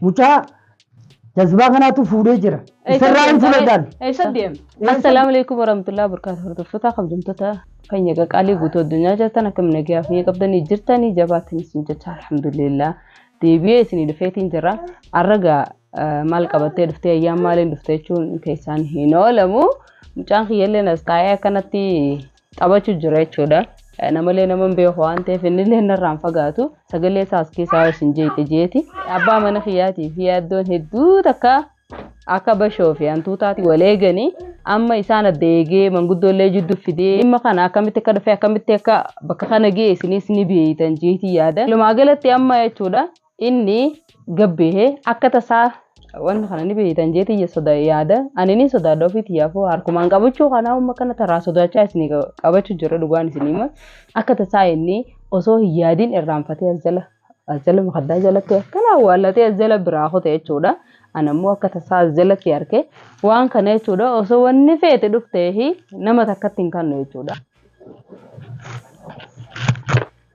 Mucaa jazbaa kanaatu fuudhee jira. Isarraa hin fudhatan. Eessa deema? Assalaamu alaikum warahmatullahi wabarakatuh. Hordoftoota kabajamtoota keenya qaqaalii guutuu addunyaa jirtan akka miidhagaa fi qabdanii jirtanii jabaatanii isin jecha alhamdulillah deebi'ee isinii dhufeetiin jira. Arragaa maal qabattee dhuftee ayyaan maaliin dhuftee jechuun keessaan hin oolamu. Mucaan kiyyallee as taa'ee akkanatti taphachu jira jechuudha. Namalee naman beeku waan ta'eef innillee narraan fagaatu sagalee isaa as keessaa isin jeeqe jeeti. Abbaa mana kiyyaatii fi yaaddoon hedduu takka akka bashoo fi hantuutaati wal eeganii amma isaan adda eegee manguddoollee jidduu fidee dhimma kana akkamitti akka dhufee akkamitti akka bakka kana ga'e isinis ni beeytan jeetii yaada. Walumaa galatti amma jechuudha inni gabbeehe akka tasaa wanta kana ni beeytan jeetii ya soda yaada ani ni sodaadha ofii tiyyaafuu harkumaan qabachuu kanaa umma kana taraa sodaachaa isin qabachuu jira dhugaan isin hima akka tasaa inni osoo hin yaadin irraanfatee as jala as jala mukaddaa jalatti akkana awwaallatee as jala biraa kute jechuudha anammoo akka tasaa as jalatti arke waan kana jechuudha osoo wanni feete dhufteehi nama takkatti hin kannu jechuudha.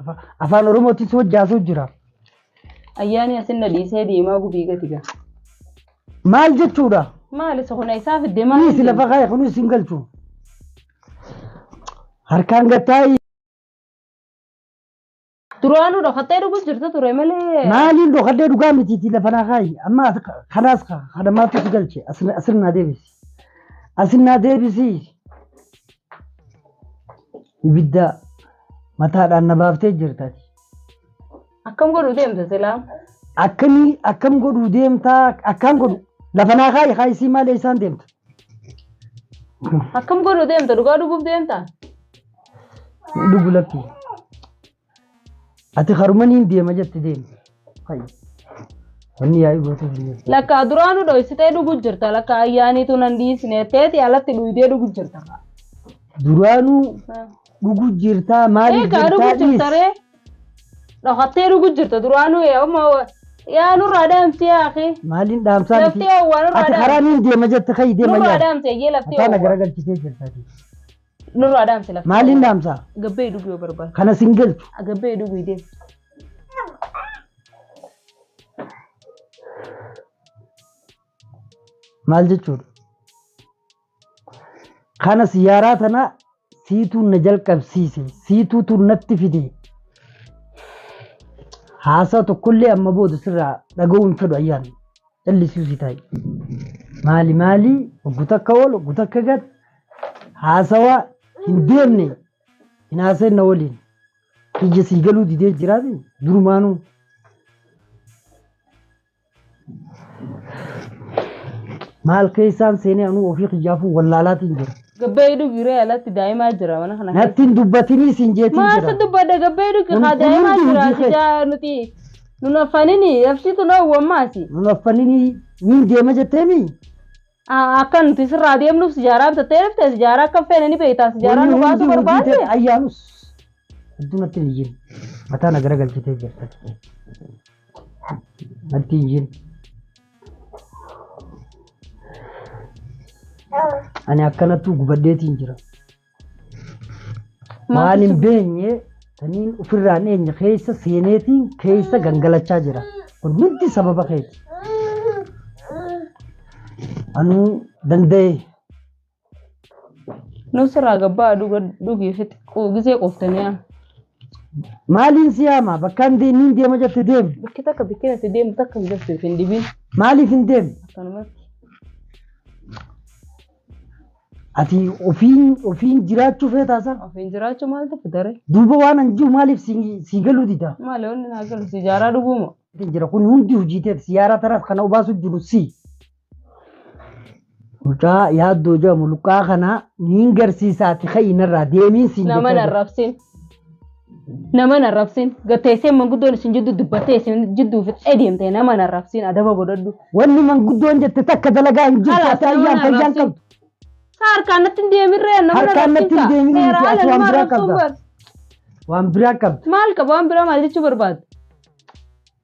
Afa- Afaan Oromootiin si wajji haasa'u jira. Ayyaanii asin na dhiisee deemaa gubii gati gaa. Maal jechuudha? Maal isa kun isaa fidde maal? Kunis lafa kaa'e kunis hin galchu. Harkaan gattaayi. Duraanuu dhokattee dhugus jirta ture malee. Maaliin dhokadhee dhugaa mitiiti lafa naa kaa'i. Amma as- kanaas ka- kana maaltu si galche? Asin asin naa deebisi. Asin naa deebisi. Ibidda mataadhaan na baaftee jirta ati. Akkam godhu deemta silaa? Akkamii akkam godhu deemtaa akkaan godhu lafa naa kaa'i haa isii maal eessaan deemta. Akkam godhu deemta? Dhugaa dhuguuf deemta? Dhugu lakkii. Ati karuma niin deema jette deemte. Fayyi. Wanni yaa'ii gootuu hin jirtu. Lakkaa duraanu dhoysitee dhugu jirta lakkaa ayyaaniitu nan dhiisne teeti alatti dhuydee dhugu jirta. Duraanuu dhugu jirtaa maaliif Eegaa jirtaa dhugu dhiis? jirta ree. Dhokattee dhugu jirta duraanu amma yaa nurraa dhaamti yaa akhi. Maaliin dhaamsaa miti? Laftee waan irraa Ati karaa dhaamti. niin deema jette kayi deema Nurraa yaa'ii. dhaamti ayyee laftee Mataa na waan. garagalchitee jirta ati. Nurraa dhaamsi lafa. Maaliin dhaamsa? Gabbee dhuguu yoo barbaadu. Kana sin galchu. Gabbee dhuguu deemu. Maal jechuudha? Kana siyaaraa tana siituu na jalqabsiise. Siituutu natti fide. Haasaa tokkollee amma booda sirraa dhaga'uu hin fedhu ayyaanni. Callisuusi taa'i. Maali maali oggu takka ol oggu takka gad haasawaa hin deemne hin haaseenna waliin. Ija sii galuu didee jiraati durumaanuu. Maal keessaan seenee anuu ofii kiyyaafuu wallaalaatiin jira. Gabbee dhugi ree alatti daa'imaa jira mana kana. Natti hin dubbatinii siin jeetiin Maasa jira. dubbadha gabbee dhugi Kun- haa kun daa'imaa hundi jira hojii kee. sidaa nuti Nun affanini ebsitu loowwu ammaasi. Nun affanini niin deema jetteemi. Akka nuti sirraa deemnuuf sijaaraa bitattee dhufte sijaaraa akka feene ni beektaa sijaaraa nu baasuu barbaadde. Ayyaanus hedduu natti hin iyyin. Mataa na garagalchitee jirta. Natti hin iyyin. Ani akkanattuu gubaddeetiin jira. Maal hin beenye saniin ofirraa hin eenye keessa seeneetiin keessa gangalachaa jira. Kun hundi sababa keeti. Anuu danda'e Nus irraa gabbaa dhuga dhugi fixi qu- gisee quuftanii yaa. maaliin si yaama bakkaan de- inni hin deema jette deemu Bakki takka bakki natti deemu takka hin jirtu isin dhibiin maaliif hin deemu akkanumatti. Ati ofiin ofiin jiraachuu feetaa saa? Ofiin jiraachuu maaltu fidare? Duuba waan an jiru maaliif si si galuu dida? Maali wanni naa galu si jaaraa dhuguu moo? Itti jira kun hundi hojii teeti siyaaraa tanaas kana obaasuu jiru si. Mucaa yaaddoo jedhamu luqqaa kana niin garsiisaati ka'ii narraa deemiin siin Nama jechaa jira. narrabsin. Naman arrabsin gatteessee manguddoon isin jidduu dubbattee isin jidduu fixee deemte naman arrabsin adaba godhadhu. Wanni manguddoon jette takka dalagaa hin jirtu Halas ati naman ayyaan fayyaan arrabsin. qabdu. Sa harkaan natti hin deemirree naman Harkaan arrabsin natti hin ka. deemin Seera miti, ati haala waan nama biraa arrabsuun qabda. bar. Waan biraa qabdu. Maal qaba waan biraa maal jechuu barbaadda?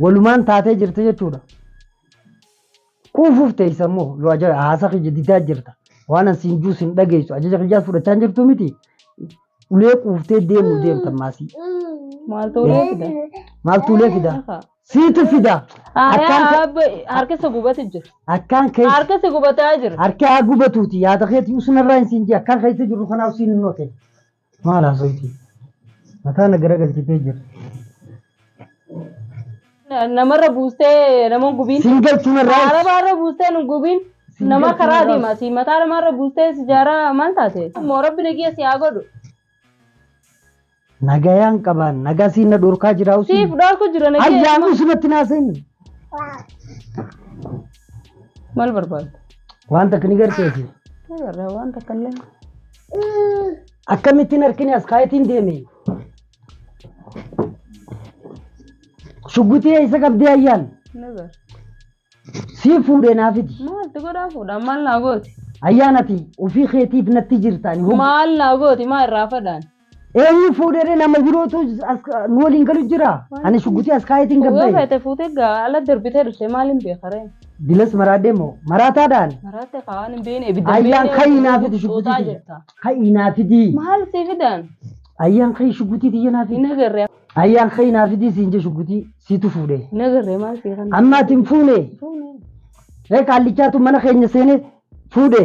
Walumaan taatee jirti jechuudha. Kuufuuf teessa immoo yoo ajaja haasa kiyya didaa jirta. Waan an siin juu siin dhageessu ajaja kiyyaas fudhachaa hin jirtu miti. Ulee quuftee deemuu deemta maasii. Maaltu ulee fida? Maaltu ulee fida? Ahaa. Siitu fida. Akkaan ka- Abba harka isa gubatu jira. Akkaan keessa. Harka isa gubataa jira. Harki haa gubatuuti yaada keetii usunarraa hin siin jee akkaan keessa jirru kanaaf siin hin hoote. Maal haasofti? Mataa na garagalchitee jirti. Na- namarra buustee nama hin gubiin Siin galchuun irraa arabaarra buustee nu gubiin Siin nama galchuun karaa irraa- deema si mataa namaarra buustee si jaaraa maal taate moo rabbi nagiya si haa godhu nagayaan qabaan nagaa siin na dhorkaa jiraa usii. siif dhorku jira nagiya Ayyaan usumatti naa seeni. maal barbaadda Wanta kan ni garteesi. Agarra waan takka illee Akkamittiin harkini as kaayetiin deeme? Shugguxii eessa qabdee ayyaan? Ni bara. Sii fuudhee naa fidi. Maaltu godhaa fuudhaa maal naa gooti? Ayyaan ati ofii keetiif natti jirta. Ani hog- Maal naa gooti maa irraa fadhaan? Eenyu fuudhee nama birootu as nu waliin galu jira? Ani shugguxii as kaayetiin Yoo gabba'e. feete fuutee gaa ala darbitee dhufte maal hin beekaree? Bilas maraadee moo maraataadhaan Maraatte kaa waan hin beekne ibidda hin Ayyaan beekne kan hin haafite xuuxaa shuggutii jirta. kan hin haafidii. Maal si fidan? Ayyaan kan shuggutii tiyya naaf Hin agarre Ayyaan kan hin haafidii siin jee shuggutii siitu fuudhe. hin agarre maal si kan? Ammaati hin fuune. Fuune. Ree qaallichaatu mana keenya seenee fuudhe.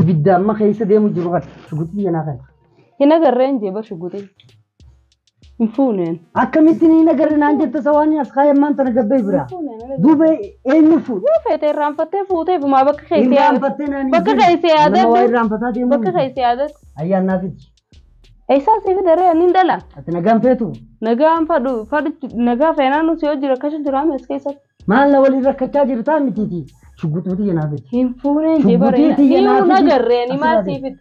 Ibidda amma keessa deemu jiru kan shuguxii jenaa kan. Hin agarree hin jeeba shuguxii. Hin fuuneen. Akkamittiin hin agarre naan jette isa waan as kaayee ammaan tana gabbee bira. Duuba eenyu fuudha? Yoo feete irraanfattee fuutee fumaa bakka Hin keessee yaadatu. raanfattee naan Bakka hin keessee Nama waa yaadatu. irraanfataa deemu. Bakka keessee yaadatu. Ayyaan naaf iji. Eessaa siif daree ani hin dhala. Ati nagaan feetu. Nagaan fadhu fadhu nagaa feenaan si hojii rakkachuu jiraame as keessatti. Maal na waliin rakkachaa jirtaa mitiiti. Shugguxii tiyya naa fidi. Hin fuunee hin jebare. Shugguxii tiyya Ni naa hin fidi. agarree ni maal Asirraa sii fide.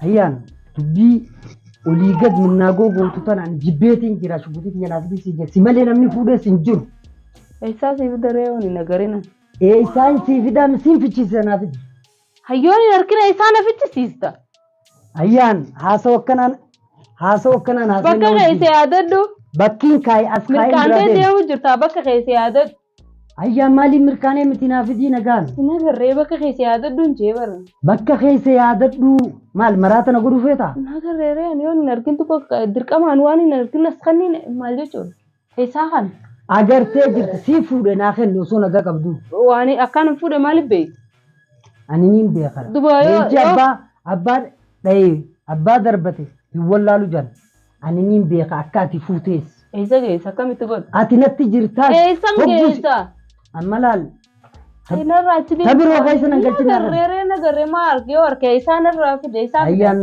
Ayyaan dubbii olii gad minnaagoo gootu tanaan jibbeetiin jira shugguxii tiyya naa fidi si jira. Si malee namni fuudhees hin jiru. Eessaa sii fide ree wani nagarina. Eessaan sii fidaa misiin fichiisa naa fidi. Hayyooni harkina isaa na fichisiista. Ayyaan haasawa akkanaan haasawa akkanaan haasa'e Bakka nama keessa jiru. yaadadhu. Bakkiin kaayi as kaayi bira Mirqaantee deema. deemu jirta bakka keessa yaadadhu. Ayyaan maaliif mirkaanee miti naa fidii nagaan. Hin agarree bakka keessa yaadadhu hin jee bara. Bakka keessa yaadadhuu maal maraata na godhu feetaa? Hin agarree ree ani yoon hin argin tokko dirqamaan waan hin argin as kanniin maal jechuudha? Esaa kan. Agartee jirta sii fuudhe naa kenni osoo nagaa qabduu. Waani akkaan hin fuudhe maaliif beeyta. Ani niin beekara. Duba yoo Leenci yoo. abbaa abbaa dhayee abbaa darbate hin wallaalu jaan. Ani niin beeka akka ati fuutees. Eessa geessa akkamitti godha. Ati natti jirtaas Eessan hoggusi. geessa. Amma laal. Inarraa achi deemu. Tabiroo keessa nan galchinaa kan. Nagarree nagarree maa arge yoo arge isaan irraa fide isaan. Ayyaan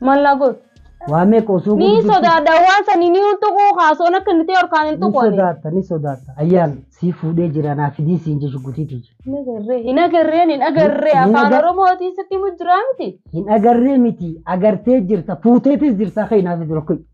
Maal naa goota? Waa meeqa osoo Ni gurgurtu- sodaadha waan sanii ni hin tuquu kaasuun akka nuti harkaan hin Ni tuqu. sodaatta, ni sodaatta. Ayyaan sii fuudhee jira naa fidii siin jechu gutiitii jira. Hin agarree hin agarreen hin agarree Hin afaan agar- oromootiin sitti himu jiraa miti. Hin agarree miti agartee jirta fuuteetis jirta akka hinaaf jiru kun.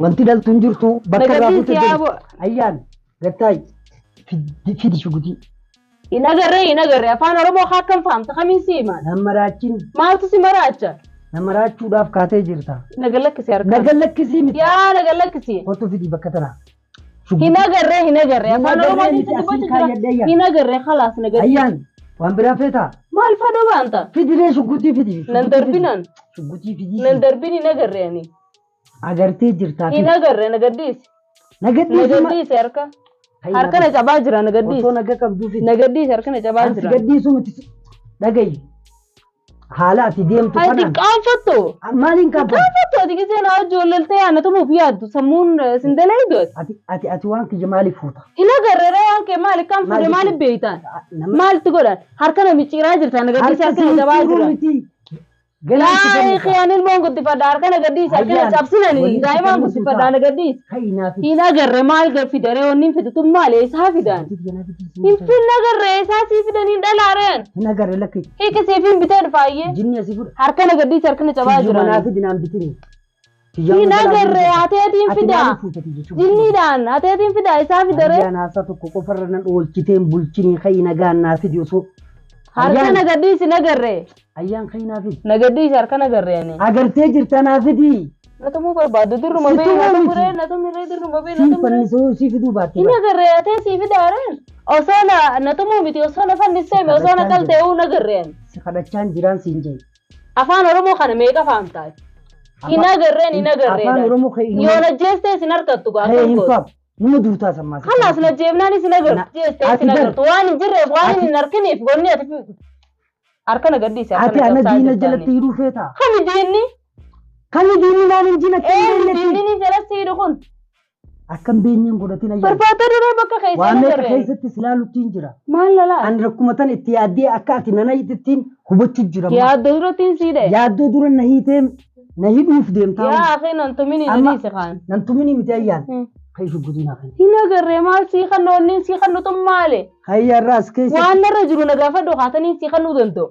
Wanti dhaltu hin jirtu bakka irraa Nagabbiin fuute siyaa boo. Ayyaan gattaayi fidi fidi shugutii Hin agarree hin agarree afaan Oromoo haa akkam fahamta kamiin si himaan. nan maraachiin Maaltu si maraacha? na maraachuudhaaf kaatee jirta. Naga lakkisi harkaa. Naga lakkisii miti. Yaa naga lakkisi. Kottu fidi bakka tanaa. Hin agarree hin agarree Hin afaan agarree Oromoo miti, keessa asiin dubbachuu jira. kaayyadhee yaa. Hin agarree khalaas naga. Ayyaan waan biraa feetaa Maal fadha baanta? fidilee shugutii fidi. Nan darbinan. Shugutii fidii. Nan darbin hin agarree ani. Agartee jirtaa Hin agarre na gadhiisi. Na Na gadhiisi ma- gadhiisi harka. Hayyaa Harka na cabaa jira na Osoo gadhiisi. naga qabduufi Na gadhiisi harka na cabaa ansi jira. gadhiisuu miti si- dhagayi. Haala ati deemtu Ati kanaan qaanfattu. maaliin kaafatu? Qaanfattu ati gisee na wajji wallaltee ana tumuuf yaaddu sammuun eh, sin dalaydu ati. Ati ati ati waan kiyya maaliif fuuta? Hin agarre ree waan kee maali kan fuudhe Maali- maali beeytaan? Nama- Maaltu godhan? Harka na micciiraa jirta na gadhiisi harka na cabaa jira. miti. Galaan si Yaa ikhii ani ilmoon guddifadha harkana gadhiisa akkana cabsinani daa'imaan guddifadha ana gadhiisa. Hin agarre maal fidare wanni hin fidu tun maali eessaa fidaan. Hin fin agarre eessaa sii fidan hin dhalaare an. Hin agarre lakki. Hiika siif hin bitee dhufaayyee. Jinni asii fudha. Harkana gadhiisa harkana cabaa jira. Manaa fidinaan bitini. Hin agarre hateetiin fidaa. Jinniidhaan hateetiin fidaa isaa fidaree. Ayyaan haasaa tokko qofarra nan oolchiteen bulchinii ka'i nagaan naa fidi osoo. Harka Ayyaan- nagaddiis hin agarre. Ayyaan ka'i naa fidi. Nagaddiis harka nagarre ani. Agartee jirta naa fidi. Na tumuu barbaaddu dirruma Si bee tumuu na miti. tumuree na tumiree dirruma bee na Siin tumuree. fannisoo sii fiduu baatte. Hin agarre hatee sii fidaaree. Osoo na na tumuu miti osoo na fanniseeme osoo na qaltee'uu na garreen. Si kadhachaan jiraan siin jee. Afaan Oromoo kana meeqa faan taay? Hin agarreen hin agarree Afaan daati. Oromoo kee hin- Yoo najjeestee sin harkattu gaa Kee akkam hin gootu. faaf. Nama duutaa sammaa. Kalaas najjeefnaan isin agartu. Na- Jeestee ati isin bar- agartu. Waan hin jirreef waan ati- hin harkiniif gonni ati fi- harkana gadhiise Ati harkana ana cabsaa diina jirtaanii. jalatti hidhuu feetaa? Kami diinni? Kami diinni maal hin jina? Ee diinni ni jalatti hidhu kun. Akkan beenyeen godhatin ayyaana. Barbaadaa duraa bakka keessaa Waan meeqa agarreen. keessatti si laaluttiin jira. Maal lalaa? Ani rakkuma tan itti yaaddee akka ati nana hiitittiin hubachuu jira. Yaaddo duratti hin siidhe. Yaaddoo dura na hiitee na hidhuuf deemtaa. Yaa akhi nan tumini Amma- nadiisi kaan. Nan tumini miti ayyaan. Hmm. Kan isin guddinaa kan. Hin agarree maal sii kan noonniin sii kan nutum maale. Hayyaarraas keessa. Waan narra jiru na gaafadhu kaataniin sii kan nu danda'u.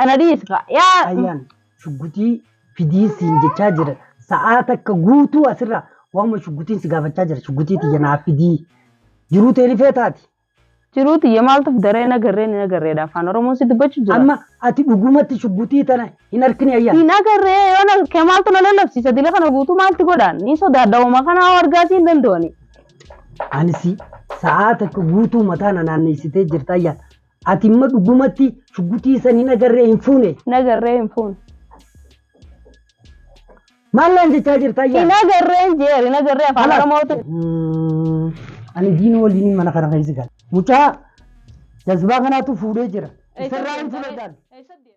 Ana dhiisi kaa. Yaa. Ayyaan shugguxii fidii siin jechaa jira. Sa'aa takka guutuu asirraa waanuma shugguxiin si gaafachaa jira. Shugguxii tiyya naaf fidii. Jiruu tee ni feetaati. Jiruu tiyya maaltu fidaree hin agarree hin agarreedha afaan oromoon si dubbachuu jira. Amma ati dhugumatti shugguxii tana hin argine ayyaan. Hin agarree yoo na kee maaltu na lallabsiisa dila kana guutuu maalti godhaan ni sodaadha hooma kana hoo argaa siin danda'ani. Anisi sa'aa takka guutuu mataa na naanneessitee jirta ayyaan. Ati imma dhugumatti shuggutii san hin agarree hin fuune. Hin agarree hin fuune. Maal naan jechaa jirta ayyaa? Hin agarree hin jeer hin agarree afaan Kalaas. Oromootu. Ani diina waliin mana kana keessa gala. Mucaa jazbaa kanaatu fuudhee jira. Isarraa hin fudhataan.